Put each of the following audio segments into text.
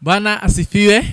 Bwana asifiwe.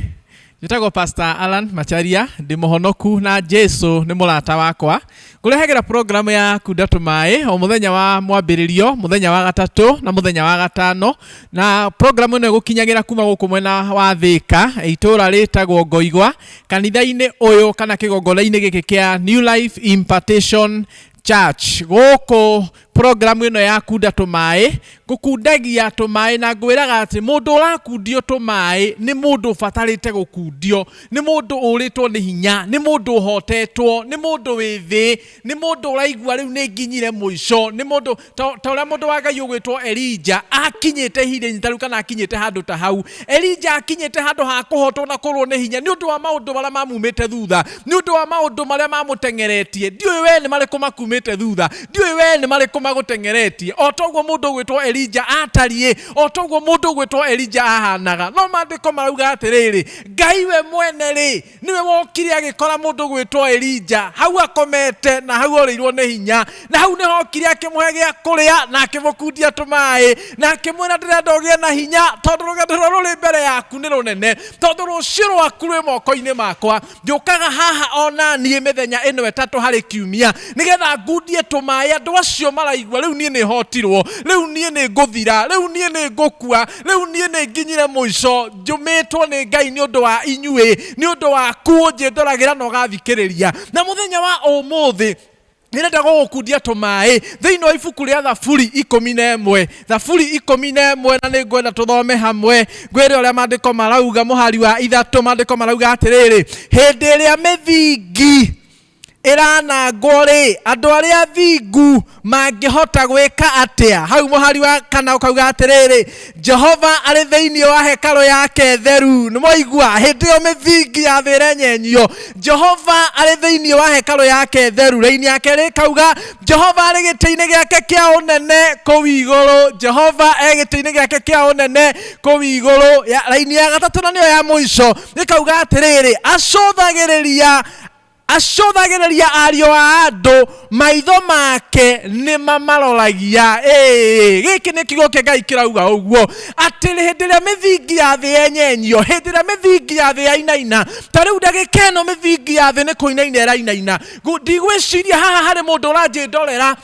Njĩtagwo Pastor Alan Macharia, ndĩ mũhonoku na Jesu nĩ mũrata wakwa. Ngũrehagĩra program ya Kunda Tũmaĩ o mũthenya wa mwambĩrĩrio, mũthenya wa gatatũ na mũthenya wa gatano. Na program ĩno ĩgũkinyagĩra kuma gũkũ mwena wa Thĩka, itũũra rĩtagwo Ngoigwa, kanitha-inĩ ũyũ kana kĩgongona-inĩ gĩkĩ kĩa New Life Impartation church gũkũ program ĩno ya kunda tũmaĩ ngũkundagia tũmaĩ na ngwĩraga atĩ mũndũ ũrakundio tũmaĩ nĩ mũndũ ũbatarĩte gũkundio nĩ mũndũ ũrĩtwo nĩ hinya nĩ mũndũ ũhotetwo nĩ mũndũ wĩ thĩ nĩ mũndũ ũraigua rĩu nĩ nginyire mũico nĩ mũndũ Ta ta ũrĩa mũndũ wa Ngai ũgwĩtwo Elija akinyĩte ihinda-inĩ ta rĩu kana akinyĩte handũ ta hau. Elija akinyĩte handũ ha kũhotwo na kũrwo nĩ hinya nĩ ũndũ wa maũndũ marĩa mamumĩte thutha, nĩ ũndũ wa maũndũ marĩa mamũteng'eretie. Ndiũĩ wee nĩ marĩkũ makumĩte thutha, ndiũĩ wee nĩ marĩkũ magũteng'eretie. O ta ũguo mũndũ ũgwĩtwo Elija aatariĩ, o ta ũguo mũndũ ũgwĩtwo Elija ahaanaga. No maandĩko marauga atĩrĩrĩ, Ngai we mwene-rĩ, niwe wokire agikora mundu gwitwo Elija hau akomete na hau orirwo ni hinya na hau niho okire akimuhe gia kuria na akimukundia tumai na akimwira ndirenda ugie na hinya tondu rugendo rwa ruri mbere yaku ni runene tondu rucio rwaku rwi moko-ini makwa njukaga haha ona nie mithenya ino itatu hari kiumia nigetha ngundie tumai andu acio maraigua riu nie ni hotirwo riu nie ni nguthira riu nie ni ngukua rĩu niĩ nĩ nginyire mũico njũmĩtwo nĩ ngai nĩ ũndũ wa inyuĩ nĩ ũndũ waku ũnjĩndoragĩra na ũgathikĩrĩria na mũthenya wa ũmũthĩ nĩrenda gũgũkundia tũmaĩ thĩinĩ wa ibuku rĩa thaburi ikũmi na ĩmwe thaburi ikũmi na ĩmwe na nĩ ngwenda tũthome hamwe ngwĩre ũrĩa maandĩko marauga mũhari wa ithatũ maandĩko marauga atĩrĩrĩ hĩndĩ ĩrĩa mĩthingi ĩranangwo-rĩ, andũ arĩa athingu mangĩhota gwĩka atĩa? Hau mũhari wa kana ũkauga atĩrĩrĩ, Jehova arĩ thĩinĩ wa hekarũ yake theru. Nĩ mwaigua? Hĩndĩ ĩyo mĩthingi ya thĩ ĩrenyenyio. Jehova arĩ thĩinĩ wa hekarũ yake theru. Raini ya kerĩ ĩkauga, Jehova arĩ gĩtĩ-inĩ gĩake kĩa ũnene kũu igũrũ. Jehova e gĩtĩ-inĩ gĩake kĩa ũnene kũu igũrũ. Raini ya gatatũ na nĩyo ya mũico ĩkauga atĩrĩrĩ, acũthagĩrĩria Acũthagĩrĩria ariũ a andũ, maitho make nĩ mamaroragia. Ĩĩ, gĩkĩ nĩ kiugo kĩa Ngai kĩrauga ũguo, atĩ hĩndĩ ĩrĩa mĩthingi ya thĩ yenyenyio, hĩndĩ ĩrĩa mĩthingi ya thĩ yainaina, ta rĩu ndagĩka ĩno mĩthingi ya thĩ nĩ kũinaina ĩrainaina. Ndigwĩciria haha harĩ mũndũ ũranjĩndorera,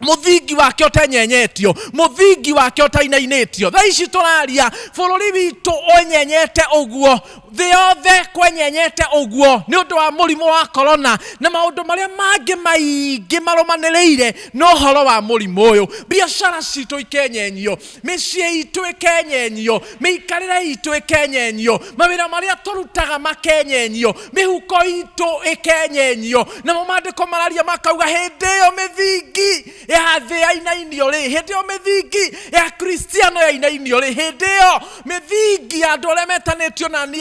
mũthingi wake ũtenyenyetio mũthingi wake ũtainainĩtio thaa ici tũraria bũrũri witũ ũnyenyete ũguo thĩ yothe kwenyenyete ũguo nĩ ũndũ wa mũrimũ wa korona na maũndũ marĩa mangĩ maingĩ marũmanĩrĩire na ũhoro wa mũrimũ ũyũ biacara citũ ikenyenyio mĩciĩ itũ ĩkenyenyio mĩikarĩre itũ ĩkenyenyio mawĩra marĩa tũrutaga makenyenyio mĩhuko itũ ĩkenyenyio namo maandĩko mararia makauga hĩndĩ ĩyo mĩthingi ya thĩ yainainio rĩ hĩndĩ ĩyo mĩthingi ya kristiano yainainio rĩ hĩndĩ ĩyo mĩthingi ya andũ arĩa metanĩtio na niĩ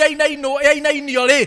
yainainio rĩ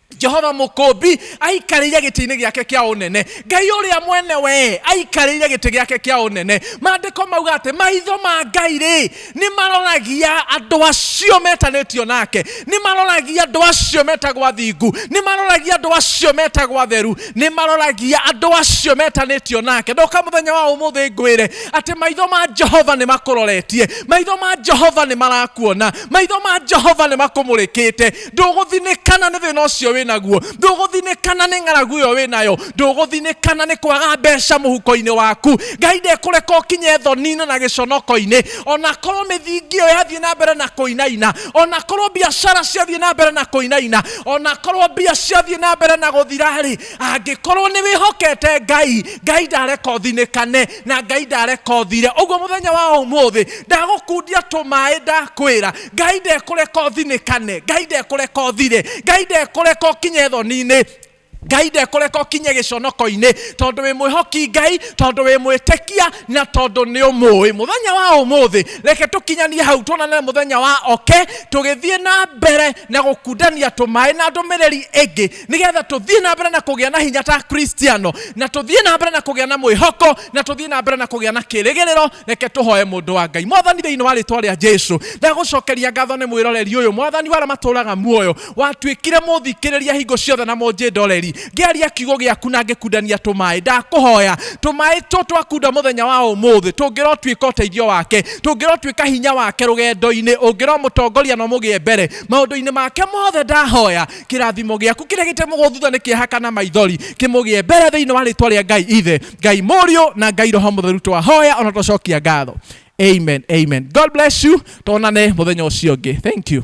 jehova mũkũmbi aikarĩire gĩtĩ-inĩ gĩake kĩa ũnene ngai ũrĩa mwene wee aikarĩire gĩtĩ gĩake kĩa ũnene maandĩko mauga atĩ maitho ma ngai rĩ nĩ maroragia andũ acio metanĩtio nake nĩ maroragia andũ acio metagwo athingu nĩ maroragia andũ acio metagwo atheru nĩ maroragia andũ acio metanĩtio nake ndoka mũthenya wa ũmũthĩ ngwĩre atĩ maitho ma jehova nĩ makũroretie maitho ma jehova nĩ marakuona maitho ma jehova nĩ makũmũrĩkĩte ndũgũthinĩkana nĩ thĩna ũcio wĩ naguo ndũgũthinĩkana nĩ ng'aragu ĩyo wĩ nayo ndũgũthinĩkana nĩ kwaga mbeca mũhuko-inĩ waku ngai ndekũreka ũkinye thoni-inĩ na gĩconoko-inĩ ona korwo mĩthingi ĩyo yathiĩ na mbere na kũinaina ona korwo biacara ciathiĩ na mbere na kũinaina ona korwo mbia ciathiĩ na mbere na gũthira-rĩ angĩkorwo nĩ wĩhokete ngai ngai ndareka ũthinĩkane na ngai ndareka ũthire ũguo mũthenya wa ũmũthĩ ndagũkundia tũmaĩ ndakwĩra ngai ndekũreka ũthinĩkane ngai ndekũreka ũthire ngai ndekũreka ũkinye thoni-inĩ ngai ndekũreka ũkinye gĩconoko-inĩ tondũ wĩ mwĩhoki ngai tondũ wĩ mwĩtĩkia na tondũ nĩ ũmũĩ mũthenya wa ũmũthĩ reke tũkinyanie hau tuonane mũthenya wa oke tũgĩthiĩ na mbere na gũkundania tũmaĩ na ndũmĩrĩri ĩngĩ nigetha tũthiĩ na mbere na kũgĩa na hinya ta kristiano na tũthiĩ na mbere na kũgĩa na mwĩhoko na tũthiĩ na mbere na kũgĩa na kĩrĩgĩrĩro reke tũhoe mũndũ wa ngai mwathani thĩinĩ wa rĩtwa rĩa jesu ndagũcokeria ngatho nĩ mwĩroreri ũyũ mwathani wara matũraga muoyo watuĩkire mũthikĩrĩria hingo ciothe na mũnjĩndoreri ngĩaria kiugo gĩaku na ngĩkundania tũmaĩ ndakũhoya tũmaĩ tũ twakunda mũthenya wa ũmũthĩ tũngĩrotuĩka ũteithio wake tũngĩrotuĩka hinya wake rũgendo-inĩ ũngĩromũtongoria na ũmũgĩe mbere maũndũ-inĩ make mothe ndahoya kĩrathimo gĩaku kĩrĩa gĩtemũgwo thutha nĩ kĩeha kana maithori kĩmũgĩe mbere thĩinĩ wa rĩtwa rĩa ngai ithe ngai mũriũ na ngai roho mũtheru twahoya ona twacokia ngatho amen amen god bless you tonane mũthenya ũcio ũngĩ thank you